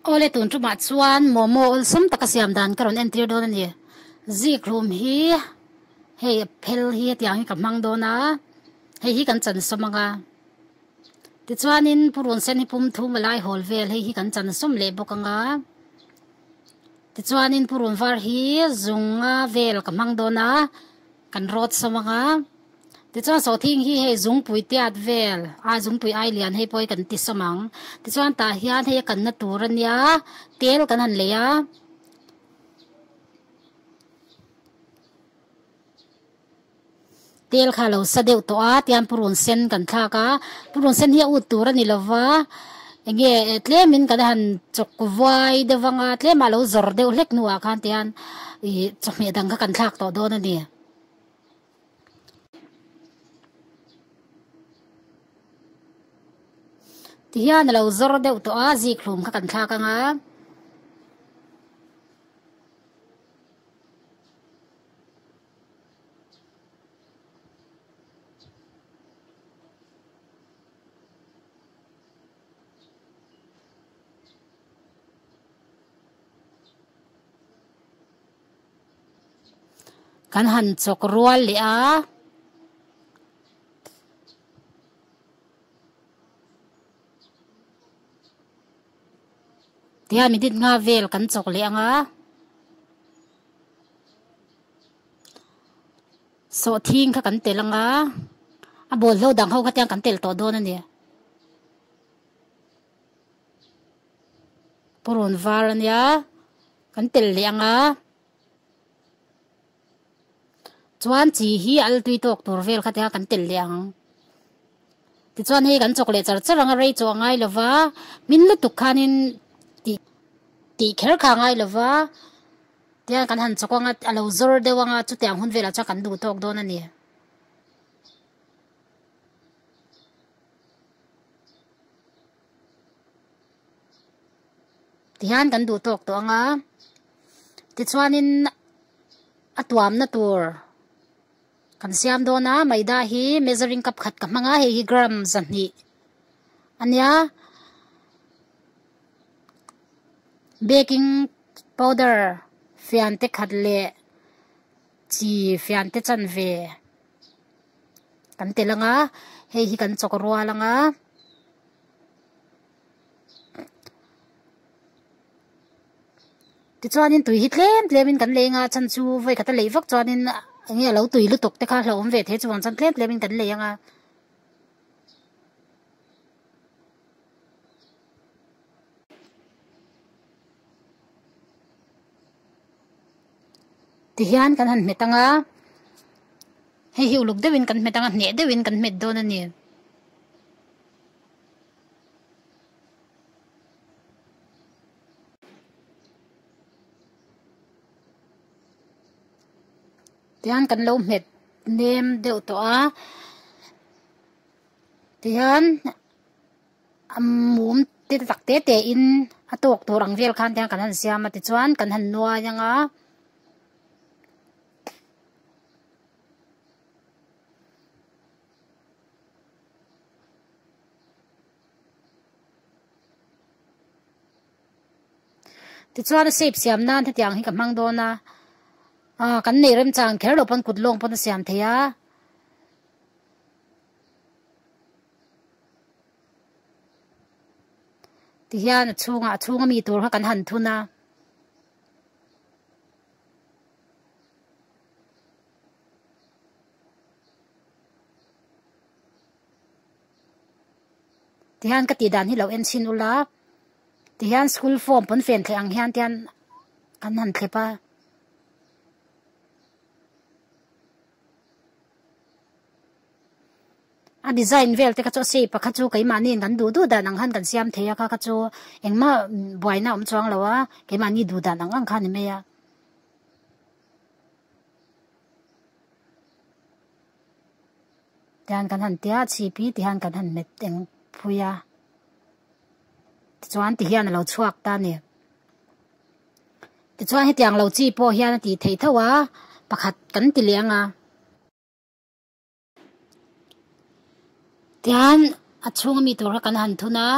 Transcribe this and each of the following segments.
Aw le tun tumah chuan momo awlsam taka siam dan ka rawn entir dawn a ni. Zikhlum hi hei a phel hi hetiang hi ka hmang dawn a, hei hi kan chansaw mang a. Tichuanin purun sen hi pum thum a lai hawl vel hei hi kan chansawm leh bawk ang a. Tichuanin purun var hi zunga vel ka hmang dawn a. Kan rawt sawm ang a. Tichuan Sawthing hi hei Zungpui Tiat vel a, Zungpui Ailian hei pawhin kan ti sawm ang. Tichuan tah hian hei a kanna tur a nia, tel kan han lei a. Tel kha a lo sa deuh tawh a, tiang purun sen kan thlak a. Purun sen hi a ut tur a ni lo va. Enge tlem in kan han chawk vuai deuh vanga tlem ah lo zawr deuh hlek hnu ah khan tihian ih chawhmeh dang kha kan thlak tawh dawn a ni. Tihian a lo zawr deuh tawh a, zik hlum kha kan thlak anga. Kan han chawk rual leh a. Tihian minute nga vel kan chawk leh ang a. Saw thing kha kan tel anga a ball hlo dang ho kha tiang kan tel tawh dawn a ni. Purun var a nia kan tel leh anga chuan chi hi altui tawk tur vel kha tiang kan tel leh ang. Tichuan hei kan chawk leh char char anga rei chu a ngai lova, hmin lutuk khanin tih tih kher kha a ngai lova, tichuan kan han chawk anga a lo zawr deuh anga chutiang hun velah chuan kan duh tawk dawn a ni. Ti hian kan duh tawk tawh anga, tichuanin a tuamna tur. Kan siam dawn a, Maida hi measuring cup khat ka hmang a, hei hi gram zahnih a nia. Baking powder fian te khat leh chi fian te chan ve kan tel ang a, hei hi kan chawk rual ang a. tichuanin tui hi tlem tlemin kan lei anga chhan chu vawi kata lei vak chuanin enge alo tui lutuk te kha a hlauhawm ve thei a chuvang chuan tlem tlemin kan lei anga. tihian kan han hmet anga hei hi uluk deuhin kan hmet anga hneh deuhin kan hmet dawn a ni. tian kan lo hmet nem deuh tawh a tian mum te ta tak te te in a tawk tur ang vel khan tian kan han siam a tichuan kan han nuai ang a Tichuan a shape siam nan hetiang hi ka hmang dawn a, ah kan nei rem chang kher lo pawn kut lawng pawn a siam thei a. Ti hian a chhunga, a chhung a mi tur kha kan han thun a. Tihian ka tih dan hi lo en chhin ula tihian school form pawnfen theih ang hian tian an han thlep a a design vel te ka chu sei pakhat chu keimahni in kan duh duh dan ang khan kan siam thei a kha ka chu engmah buaina awm chuang lo a keimahni duh dan ang ang kha ni mai a. tihan kan han tia chhipi tihan kan han met eng phui a tichuan ti hian a lo chhuak ta ni tichuan hetiang lo chi pawh hian a ti thei tho a pakhat kan ti leh anga. Tichuan a chhunga mi tur kha kan han thun a.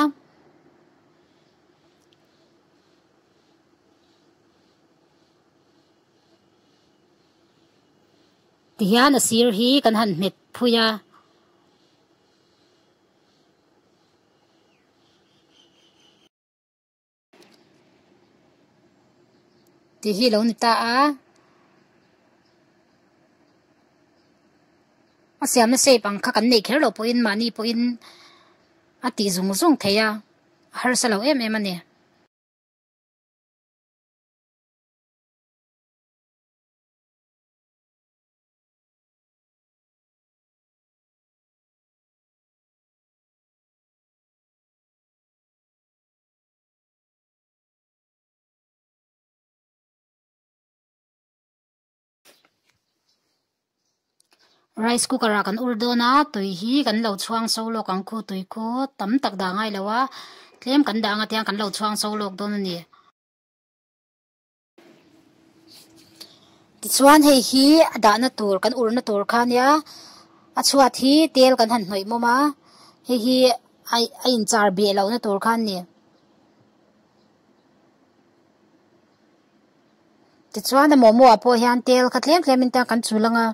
Tihian a sir hi kan han hmet phui a. tih hi lo ni ta a a siamna shape ang kha kan neih kher loh pawhin mahni pawhin a tih zung zung thei a a harsa lo em em a ni. Rice cooker ah kan ur dawn a tui hi kan lo chhuang so lawk ang khu tui khu tam tak dah ngai lo a tlem kan dah ang atiang kan lo chhuang so lawk dawn a ni. Tichuan hei hi a dahna tur kan urna tur kha a nia a chhuat hi tel kan han hnawih mawm a hei hi a in char beh loh na tur kha a ni tichuan a momo ah pawh hian tel kha tlem tlem in te kan chul ang a.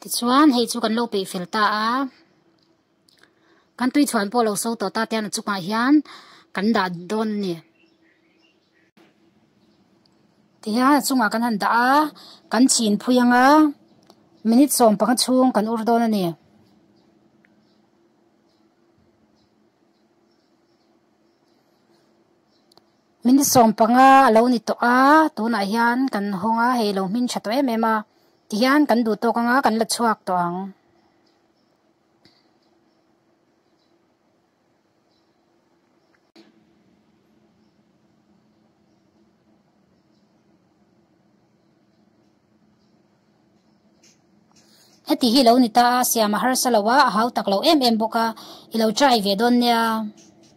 tichuan hei chu kan lo peih fel ta a kan tui chhuan pawh lo sawi tawh ta te a chungah hian kan dah dawn a ni. Tihian a chungah kan han dah a, kan chhin phui anga minute sawm panga chhung kan ur dawn a ni. Minute sawm panga a lo ni tawh a, tunah hian kan hawng a, hei a lo hmin tha tawh em em a. Tihian kan duh tawk anga kan la chhuak tawh ang. heti hi lo ni ta a siam a harsa lo a a hau tak loh em em bawk a i lo try ve dawn nia.